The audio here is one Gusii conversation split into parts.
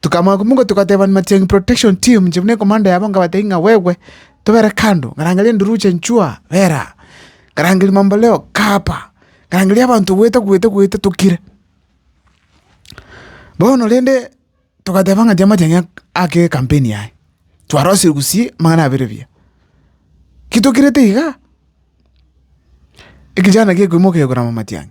Tikamoa kumogwe togatebania matiangi protection team inche buna ekomanda yabo ngabatebi ng'a gwegwe tobere kando, ngarangeria enduruche nchua bera aa, ngarangeria mamboleo kaa apa, ngarangeria abanto goeta goeta goeta tokire. Bono rende togateba ng'a tiga matiang'i ake ekampeni yaye, twarosirie gusii amang'ana abere buya. Ki tokirete igaa, ekechana gekoimoka kegokora amatiang'i.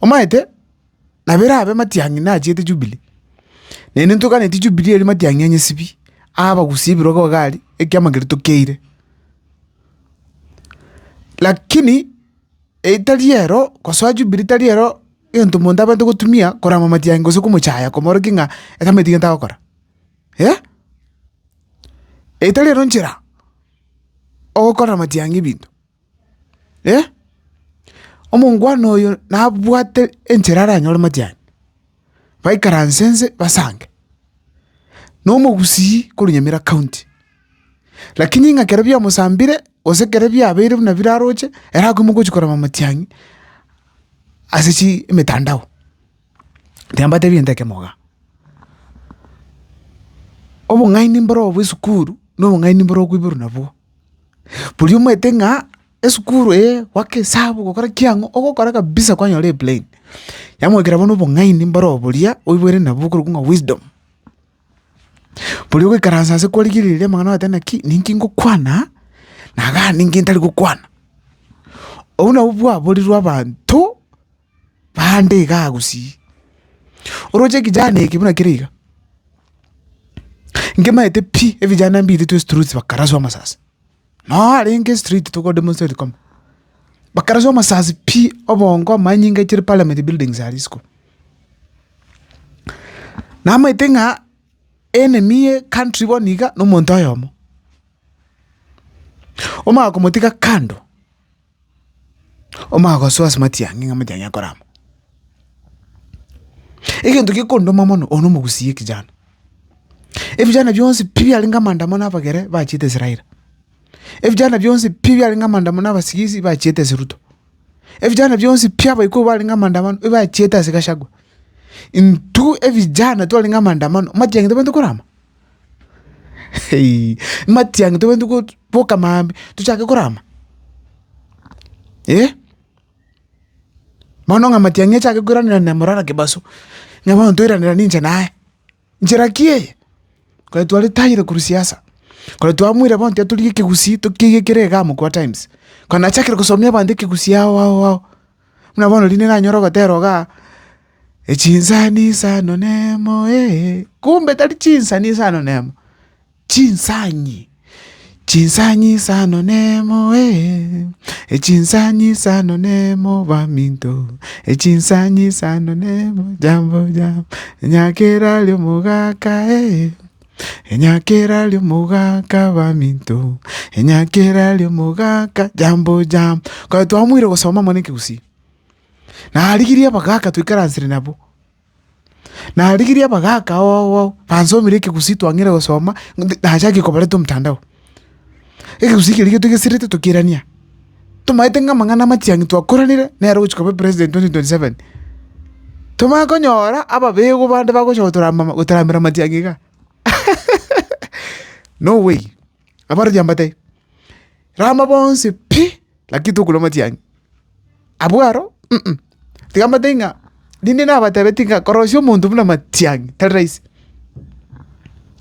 Omanyete, nabo erabe matiang'i nachiete Jubilee, naende ntoganetie Jubilee ere matiang'i ya nyesibi, abagusie ebirogo iga aria, ekiama keria tokeire. Lakini etari ero, gosoa Jubilee tari ero, egento omonto abwenerete gotumia, korama matiang'i gose komochaya komorokia ng'a etamaeti gento agokora, eh? Etari ero nchera, ogokora matiang'i ebinto. Eh! Omongwana oyo nabwate enchera aranyore matian, baikaranse nse basange. Nomogusii korwa Nyamira county, lakini ng'a kero biamosambire gose kero biabeire buna biraroche, ere akoimoka gochi korema matiang'i ase chi emetandao. Tiambatebi gento ekemo igaa. Obong'aini mboro obwe esukuru, nobong'aini mboro okoiborwa nabwo. Bori omanyete ng'a esukuru eye goaka esabu gokora ki ang'o, ogokora kabisa kwanyora e plane. Yamoakera bono obong'aini mboro obo boria oiborete nabwo okorokwa ng'a wisdom. Bori ogoikaransa ase kwarigereria amang'ana ogoteba naki ninki ngokwana na gaki ninki ntari gokwana. Obwo nabwo bwaborirwe abanto. Naende iga agusii, oroche ekijana eke buna kere iga, nkemaete pi ebijana mbito twe estriti bakaraswa amasasi, noa arenge estriti togo demonstrate koma, bakaraswa amasasi pi, obongo, amanyinga chire parliament buildings aria isiko. Namaete ng'a enemy ye country bono iga nomonto oyomo, omanye komotiga kando. Omogoso ase matiang'i ng'a matiang'i akorama. Egento gekondoma mono, oyo na omogusii ekejana. Ebijana bionsi pi biarenge amaandamano na abagere bachiete ase Raila. Ebijana bionsi pi biarenge amaandamano na abasigisi bachiete ase Ruto. Ebijana bionsi pi abaikuru barenge amaandamano ebachiete ase Gachagua. Intwe ebijana twarenge amaandamano matiang'i tobaete korama. matiang'i tobwenerete go- goka maambia tochake korama bono ng'a matiang'i achake koiranera na morara kebaso, ng'a bono toiranera ninche naye, nchera ki eye? Kore twaretayire korwa siasa, kore twamoire bono tiga torigie ekegusii tokiegekere iga amo kwa times, kona achakire gosomia abanto ekegusii ao ao ao. Buna bono riria nanyora ogotera iga, Chinsani isano na emo ee, kumbe tari chinsani isano na emo, chinsanyi, chinsanyi isano na emo ee, chinsanyi isano na emo baminto, chinsanyi isano na emo jambo jambo, nyakera ri omogaka ee. Enyakera ri'omogaka baminto, enyakera ri'omogaka jambo jambo. Kare twamoire gosoma mono ekegusii, narigirie abagaka twaikaransire nabo, narigirie abagaka ao ao ao bansomire ekegusii twang'eire gosoma, nachakire kobareta omotandao. Egegusii keria getwe geserete tokerania, tomaete ng'a amang'ana amatiangi twakoranire nere ogochia koba president twenty twenty seven, tomanye konyora ababegwa bande bagocha gotorama gotoramera amatiangi igaa no way abarwoti aba mbatebi rama bonsi pi lakini tokorwa amatiangi abwo aro. Tiga mbatebi ng'a rinde nabatebetie ng'a korosia omonto buna matiang'i tari rahisi.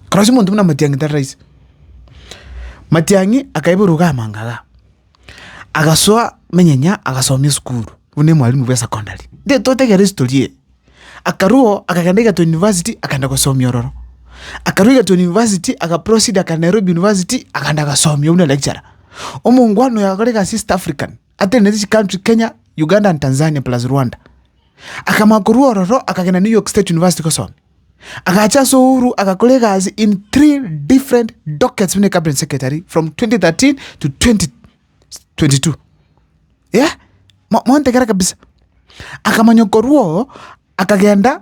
Korosia omonto buna matiang'i tari rahisi. Matiang'i akaibwa eruga amanga igaa, agasoa manyanya agasomia esukuru buna omwalimu bwa esecondary, nde totegere history eye. Akarwao akagenda egerton university akagenda gosomia ororo, akarwa egerton university aga proceed akagenda Nairobi university akagenda agasomia buna lecturer. Omongwana oyo akore egasi east african. atenenete ase chicountry Kenya, Uganda and Tanzania plus Rwanda. Akamoa korwa ororo akagenda New York State University gosomia. Agacha ase Uhuru agakora egasi in three different dockets buna cabinet secretary from 2013 to 2022. Yeah? Mo- Montegera kabisa. Akamanya korwa oo akagenda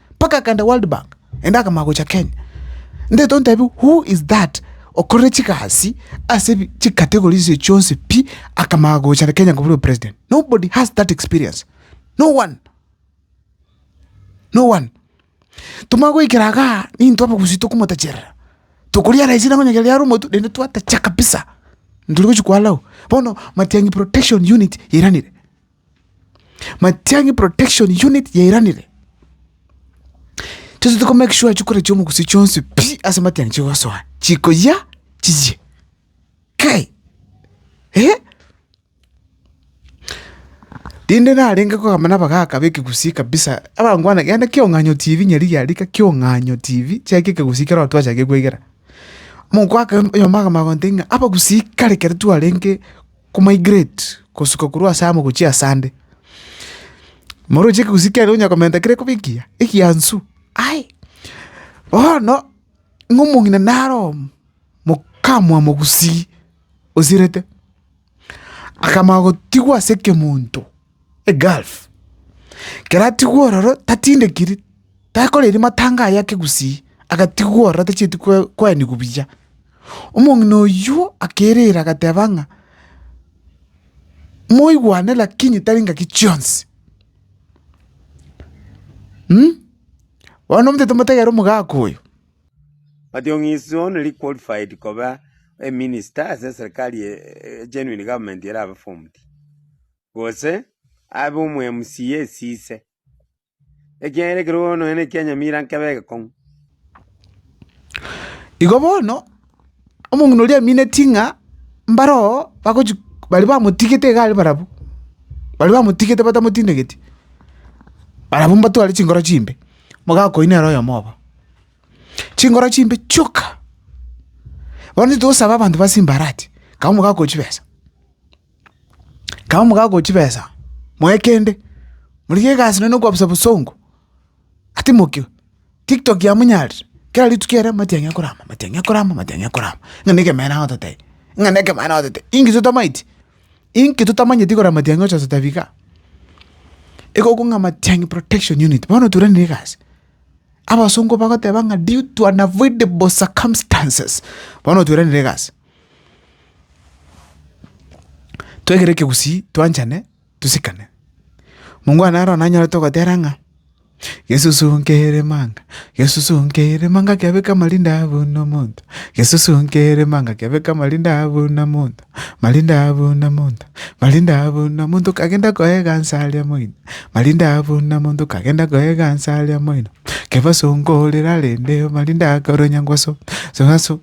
mpaka akaenda World Bank naende akamanya gocha Kenya. Ntaete ontebie who is that okorire chigasi ase ebi chicategories echi chionsi pi akamanya gocha Kenya kobua president. Nobody has that experience. No one. No one. Tomanye goikera igaa nintwe abagusii tokomotacherera. Tokoriara esira onye kere riare omotwe naende twatacha kabisa. Ntori gochia koallow. Bono Matiang'i Protection Unit yairanire. Matiang'i Protection Unit yairanire, tochete ko make sure chikura chi'omogusii chionsi pi ase matiang'i chigosoa, chikoyia chiyie. Kai! Eeh! Rinde narenge kogamba na abagaka b'ekegusii kabisa, abangwana yaani kiong'anyo TV nyarigia rika kiong'anyo TV, chiaki ekegusii kero twachake koegera. Mogaka oyomo agamanya gontebia ng'a abagusii kare ekero twarenge. komigrate gosuka korwa ase amo gochia ase ande. Moroche ekegusii kiane onya komenta kere koba ekiya, ekianswe. Aye, bono ng'a omong'ina naro omo, mokamwabo gusii osirete, akamanya gotigwa ase ekemonto. Gulf. Ekero atigwe ororo tatindekiri, takoreiri matanga aye ake gusii, agatigwa ororo atachieti koenigwa buya. Omong'ina oyio akeirera agateba ng'a, moigwane lakini tari engaki chionsi. Bono omotete motegere omogaka oyo. Mationg'i is only qualified koba a minister ase eserikari a genuine government erabe formed. gose abe omwemusi yesise, ekiagera ekerogo nonya nekianyamira nkebe egekong'u. Igo bono, omong'ina oria amineti ng'a mbaro oo bagochi baria bamotigete iga are barabwo, baria bamotigete batamotindegeti, barabwo mbatware chinkoro chimbe, omogaka oyio nere oyomo obo. Chinkoro chimbe chioka, bono titogosaba abanto ba simbarati, kaba omogaka oo chibesa. Kaba mogakoa chibesa, moe kende, morigie egasi nonya na okoabisa bosongo, atimokigwe. Tiktok yamonyarire, kera rituko ere amatiang'e akorama, amatiang'e akorama, amatiang'e akorama, ng'a na ekemanera agototebi, ng'a na ekemanera agototebi. Inki totamaeti? Inki totamanyeti igoro y'amatiang'i gocha gototebi igaa? Igo okong'a amatiang'i protection unit, bono oturanire egasi, abasongo bagoteba ng'a due to unavoidable circumstances, bono oturanire egasi. Twegere ekegusii twanchane tosikane. Mongwana aro nanyorete ogotera ng'a, Yesusu nkere manga, Yesusu nkere manga kiabeka amarinda buna omonto, Yesusu nkere manga kiabeka amarinda buna omonto, marinda buna omonto, marinda buna omonto kagenda koegansa aria moino, marinda buna omonto kagenda koegansa aria moino, kebaso nkorera rende marinda akoria onyangoso, songaso.